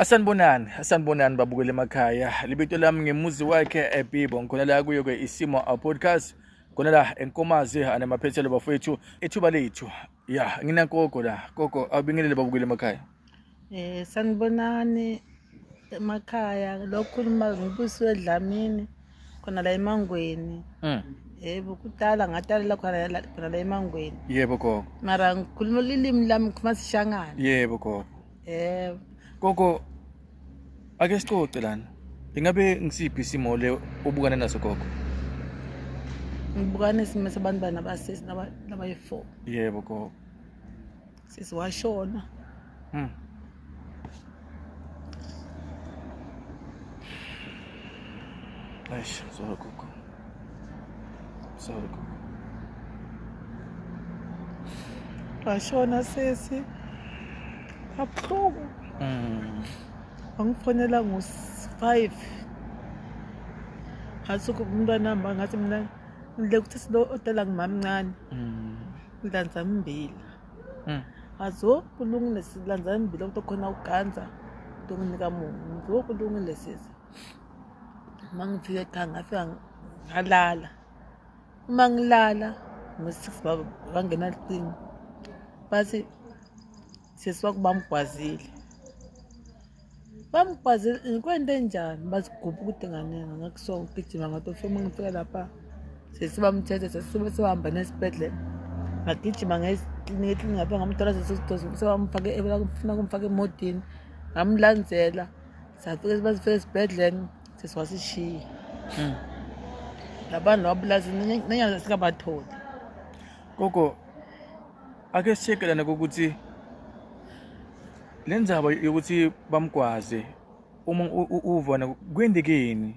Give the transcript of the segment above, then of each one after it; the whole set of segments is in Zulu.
Asanibonani, asanibonani babukele emakhaya. Libito lami ngemuzi wakhe eBibo. Ngikhona la kuyo ke isimo a podcast. Khona la enkomazi anamaphethelo bafowethu ethuba lethu. Ya, ngina gogo la. Gogo abingelele babukele emakhaya. Eh sanibonani emakhaya lokhuluma ngibuswe Dlamini khona la eMangweni. Mm. Yebo kudala ngatalela khona la khona la eMangweni. Yebo gogo. Mara ngikhuluma ilimi lami ngikhuluma sishangane. Yebo gogo. yebo gogo ake sicoce lana ingabe ngisiphi isimo le obukane naso gogo ngibukane isimo sabantu bana basisi nabayi-four yebo gogo sisi washona hmm. Ai, só com Sorry. Washona sesi. Kabuhlungu. Mm. Wangifonela ngo-5. Ngathi umntwana wami ngathi mina ngile ukuthi silo odala ngumamncane. Mm. Ngidlanza mbila. Mm. Azo kulungile silanza mbila ukuthi khona uganza. Ngizokunika mungu. Ngizokulungile sesi. uma ngifika ekhaya ngafika ngalala uma ngilala ngo-six bangena lucingo bathi sesi wakho bamgwazile bamgwazile ngikwento enjani bathi gubha ukuthi nganenga ngakho so ngigijima ngathi ofike uma ngifika lapha sesi bamthethe sesi sebahamba nesibhedlela ngagijima ngeklinika eklinika ngapha ngamthola sesi sebamfake funa kumfaka emodini ngamlandzela safike bazifike esibhedlela sisi wasishiya hmm. labantu wabulazi nenyanga singabatholi gogo ake sishekelane kokuthi le ndzaba yokuthi bamgwaze uma uvona kwendekeni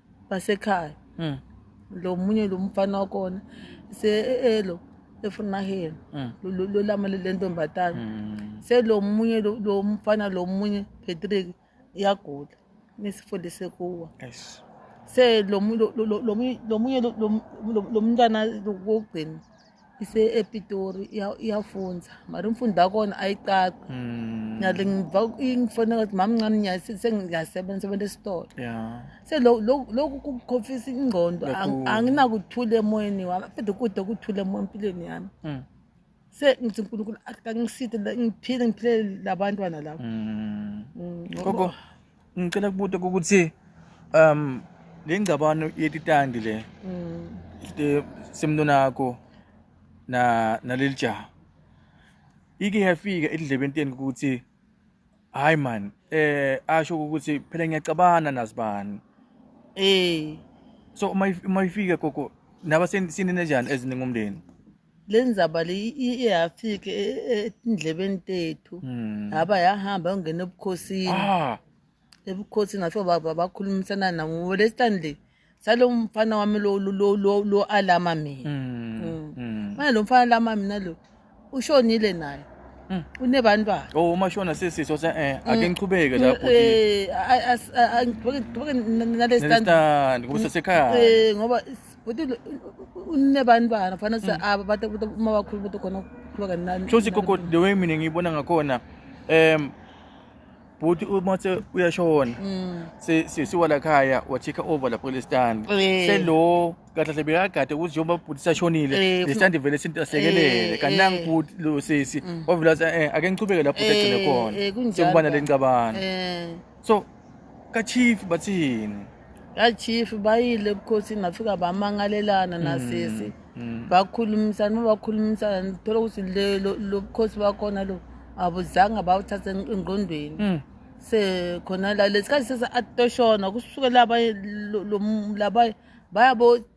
basekhaya mm. lo munye lo mfana wakhona se-elo eh, eh, efunaheni mm. lolama le ntombazane mm. selo munye lo mfana lo munye patrick iyagula nisifundise kuwa se lo munye lo mntwana wokugcina ise-epitori iyafunza mari umfundi wakhona ayicaci hmm. nale ngiva ingifona kathi mama mncane nyaye sengiyasebenza sebenza esitolo se lokhu kukhofisa ingqondo anginakuthula emoyeni wami fede kude kuthula emoya empilweni yami hmm. se ngithi unkulunkulu akangiside ngiphile ngiphilele labantwana labo hmm. ngicela kubuta ukuthi um le ngcabano yetitandi le mm. semntonakho na naleli jaha ike yafika edlebeni teni ukuthi hayi man eh asho ukuthi phela ngiyacabana nazibani eh so uma uma ifika gogo naba sinine njani eziningi umndeni le ndzaba le i- i- iyafika e- e- etindlebeni tethu Hmm. haba yahamba yongena ebukhosini Ah, ebukhosini ngafika ba- ba- bakhulumisana nabo ngoba lesitani le salo mfana wami lo- lo- lo- lo- lo alama mina mm, Mm. mm. manje lo mfana alama mina lo ushonile naye Mm. unebantwana Oh, uma shona sisi so se eh ake ngichubeke la bhuti. Eh, a- a- a- a- ngigqoke- ngigqoke na- na- nalesitandi. Nalesitandi kubusa sekhaya. Eh, ngoba is- unne bantwana fana sa aba mm. bata uma bakhulu bata khona ukukhuleka nani shothi gogo the way mina ngiyibona ngakhona um bhuti uma se uyashona mm. sesiwa lakhaya wachika over lapho lesitani eh. selo kahle hle bekagade ukuthi njengoba bhuti sashonile eh, lesitandi vele sintasekelele eh, kanti nangi bhuti lo sisi mm. wavela ake ngichubeke lapho egcine khona sekubana le ngcabano so ka chief bathi yini ka chief bayile ebukhosini bafika bamangalelana nasisi mm, mm. bakhulumisana uma bakhulumisana ngithola ukuthi lobukhosi bakhona lo abuzange bawuthathe engqondweni mm. sekhona la lesikhathi sesa atoshona kusukela abanye laba bayabo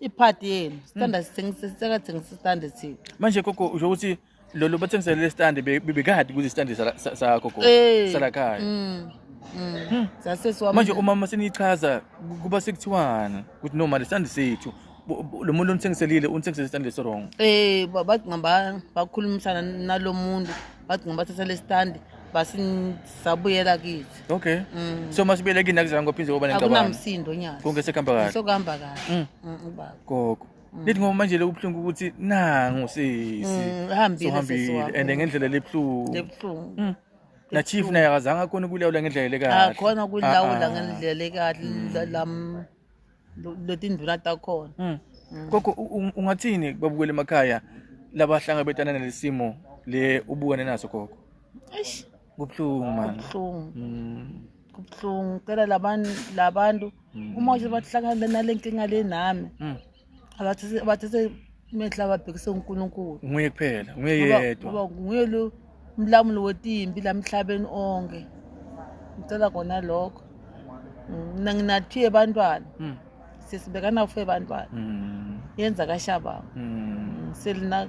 iphadi yenu sithanda hmm. sithengisa sisekathengisa isithanda thina manje gogo usho ukuthi lolu bathengisele lesithanda bebekade kuze isithanda sagogo eh. salakhaya hmm. hmm. zasesiwa manje umama seniyichaza kuba sekuthiwana ukuthi no mali isithanda sethu lo muntu onithengiselile unithengisele isithanda lesi wrong eh bathi ngaba bakhulumisana nalo muntu bathi ngaba thatha lesithanda basi sabuyela kithi okay mm. so masibuyele kini akuzange kophinde kuba nengxabano akunamsindo nyazi konke sekuhamba kahle sokuhamba kahle mm. mm, ubaba gogo mm. lithi ngoba manje lokubuhlungu ukuthi nangu sisi uhambile and ngendlela lebuhlungu lebuhlungu mm. na chief naye akazange akhona ukulawula ngendlela lekahle akhona ukulawula ah, ah. ngendlela lekahle mm. lo- letindvuna takhona Mm. Gogo u- u- ungathini babukele emakhaya labahlangabetana nalesimo le ubukane naso gogo. eish Kubuhlungu man. kubuhlungu Mm. kubuhlungu cela labantu labantu uma usebahlangana nalenkinga le nami Mm. abathathe abathathe imehlo ababhekise uNkulunkulu nguye kuphela nguye Ngoba- yedwa ngoba nguye lo mlamuli wetimbi la emhlabeni onke ngicela kona lokho Mm, mina nginathiye bantwana Mm, sesibekana ufe bantwana mm, yenza kashabanga mm. selina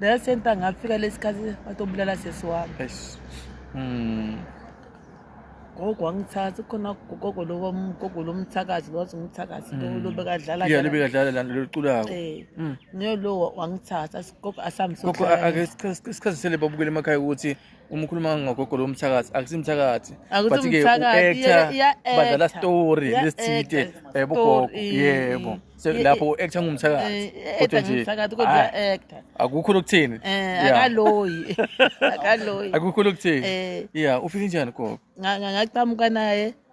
Leyo senta ngafika lesikhathi batobulala sesi wami. Eish. Mm. Gogo wangithatha khona gogo lo gogo lo mthakazi wathi ngumthakazi lo lo bekadlala. Yeah, lebe kadlala lana loculako. Eh. Mm. Ngiyolowa wangithatha sigogo asamsokho. Gogo ake sikhathi sele babukele emakhaya ukuthi uma ukhuluma ngogogo lo mthakathi akusimthakathi but ke u-actor badlala story lesithide yebo gogo yebo lapho u-actor ngumthakathi eh, kodwa nje akukho lokuthini eh, akaloyi akaloyi akukho lokuthini eh. ya ufike njani gogo ngaqhamuka naye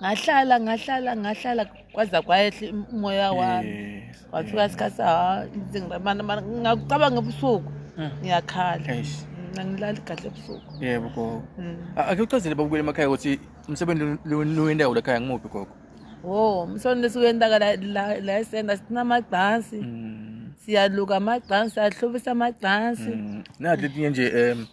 ngahlala ngahlala ngahlala kwaza kwayehla umoya wami kwafika sikhathi ngakucabanga ebusuku hmm. ngiyakhala angilali kahle ebusuku yebo gogo hmm. ake uchazele babukele emakhaya ukuthi umsebenzi lowendawo lakhaya ngimuphi gogo wo umsebenzi lesiwendaka la esenda sinamagcansi hmm. siyaluka amagcansi siyahlobisa amagcansi nathi etinye nje um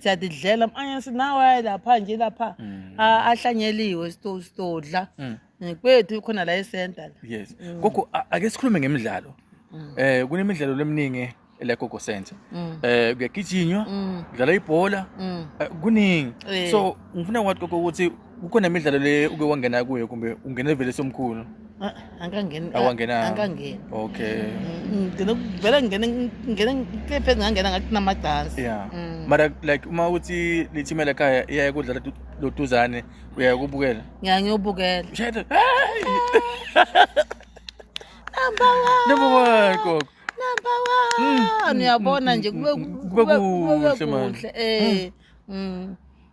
siyadidlela manje sinawe lapha nje lapha mm. ahlanyeliwe sitodla mm. eh, kwethu khona la esenta yes mm. gogo ake sikhulume ngemidlalo eh kunemidlalo leminingi la gogo center eh kuyagijinywa kudlala ibhola eh, kuningi eh. so ngifuna kwathi gogo ukuthi kukhona imidlalo le uke wangena kuyo kumbe ungene vele somkhulu Ah, angangeni Awangena. angangeni okay Mm, ngigcine vele ngingene ngingene ngithe pheze ngangena ngathi kunamadansi yeah Mm. mara like uma uthi lithime lakhaya iyaye kudlala du- loduzane uyaye kubukela ngiya ngiyobukela Shayda, hey! number one Number one, gogo. number one uyabona nje kube kube kube kuhle, man. kuhle eh mm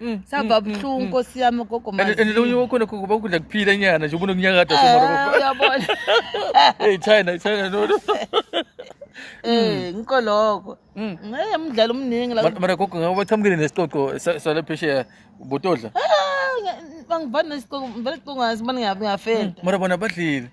Mm, sava mm, mm, buhlungu nkosi yami ugogo and lo unye wakhona kuba ukudla kuphila inyana nje ubona ukunyakada eh, uyabona hey china china no no eh ngikho lokho ngeke mdlalo omningi la mara gogo ngabe bachamukile nesixoxo sale phesheya botodla ah, bangivani nesixoxo ngivele sixoxo ngazi bani ngiyafenda mara bona badlile